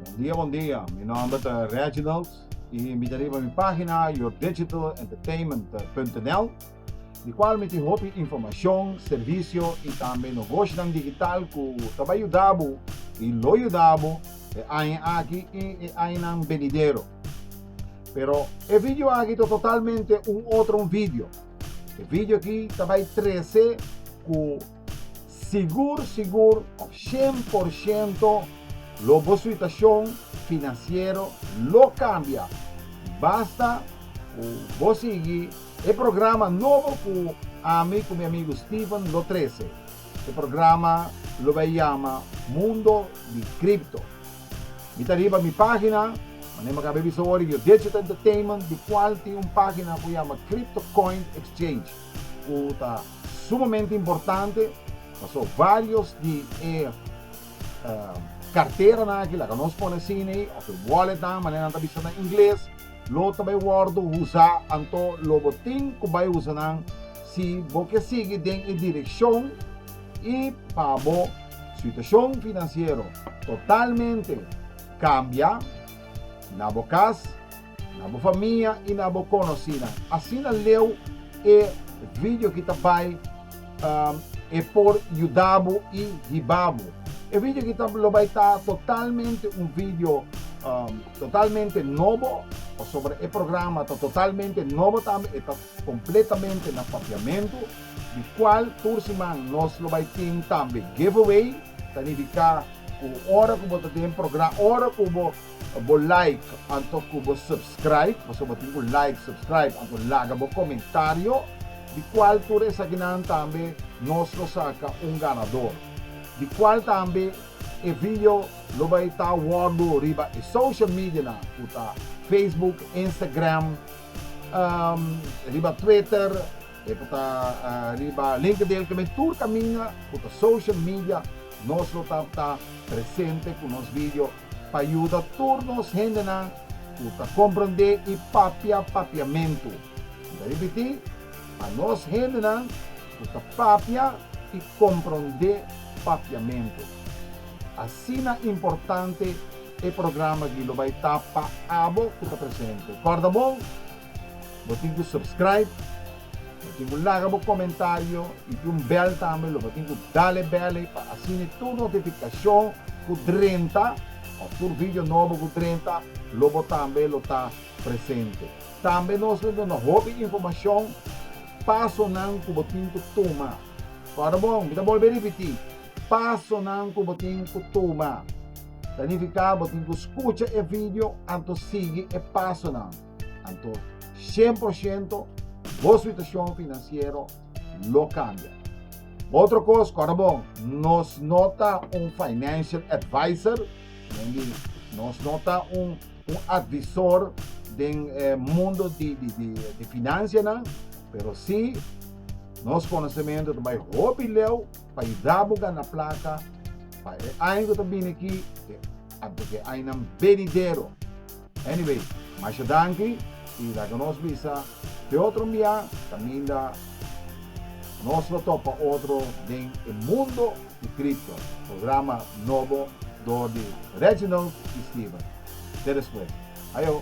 Bon dia, bon dia. Mi nomber ta Reginald y mi invita riba mi pagina yourdigitalentertainment.nl di cual mi tin hopi informacion, servicio y tambe nogoshonan digital cu ta bay yudabo y lo yudabo e aña aki y e añanan benidero. Pero e video aki ta totalmente un otro un video. E video aki ta bai trece cu sigur sigur of shen por shento lo bo suitacion financiero lo cambia. Basta cu bo sigui e programa nobo cu ami cu mi amigo Steven lo trece. E programa lo bai yama Mundo di Crypto. Mi ta riba mi pagina, manera mi acaba bisa awor, Yo Digital Entertainment, di cual tin un pagina cu yama Crypto Coin Exchange, cu ta sumamente importante paso varios di e carteranan aki, laga nos pone asina ey, of e walletnan, manera nan ta bisa na ingles, lo ta bay wordo usa, anto lo bo tin cu bay usa nan si bo ke sigui den e direccion. i pa bo situashon finansiero totalmente kambia, na bo kas, na bo famia i na bo konosínan. Asina leu e vidio ki ta bai E por yuda bo i hiba bo. E vidio ki ta lo bai ta totalmente un vidio totalmente nobo, pasobra e programa ta totalmente nobo tambe, e ta Completamente na Papiamento, di cual tur siman nos lo bay tin tambe giveaway, ta nifica cu ora cu bo ta den progra, ora cu bo bo like anto cu bo subscribe, pasobra bo tin cu like, subscribe anto laga bo comentario, di cual tur esakinan tambe nos lo saca un ganador, di cual tambe e video lo bay ta wordo riba e social medianan cu ta Facebook, Instagram, riba Twitter, e ku ta riba LinkedIn, kende tur kaminda ku ta social media, nos lo ta ta presente ku nos video pa yuda tur nos hendenan ku ta komprondé i papia papiamentu. Mi ta ripití, pa nos hendenan ku ta papia i komprondé papiamentu. Asina importante! E programa di lo bai ta pa abo ku ta presente. Kòrda bon, bo tin ku subscribe, bo tin ku laga bo komentario i tin un bèl tambe lo bo tin ku dale bèl ei pa asina tur notifikashon ku drenta òf tur vidio nobo ku drenta lo bo tambe lo ta presente. Tambe nos lo duna hopi informashon pasonan ku bo tin ku tuma. Kòrda bon, mi ta bolbe ripití, pasonan ku bo tin ku tuma. Planifiká, Bo tin ku skucha e vidio anto sigui e pasonan. Anto shen por shento bo situashon finansiero lo kambia. Otro kos, kòrda bo nos no ta un financial advisor, men di nos no ta un un advisor den e mundo di di finansianan, pero si nos konosementu ta bai hopi leu. pa yudabo gana plaka pa e aña ku ta bini aki, e anto ke añanan benidero. Anyway, masha danki i laga nos bisa ke otro mbiá kaminda nos lo topa otro den e mundo di kripto, programa nobo dor di Reginald i Steven. Te despues. Ayo!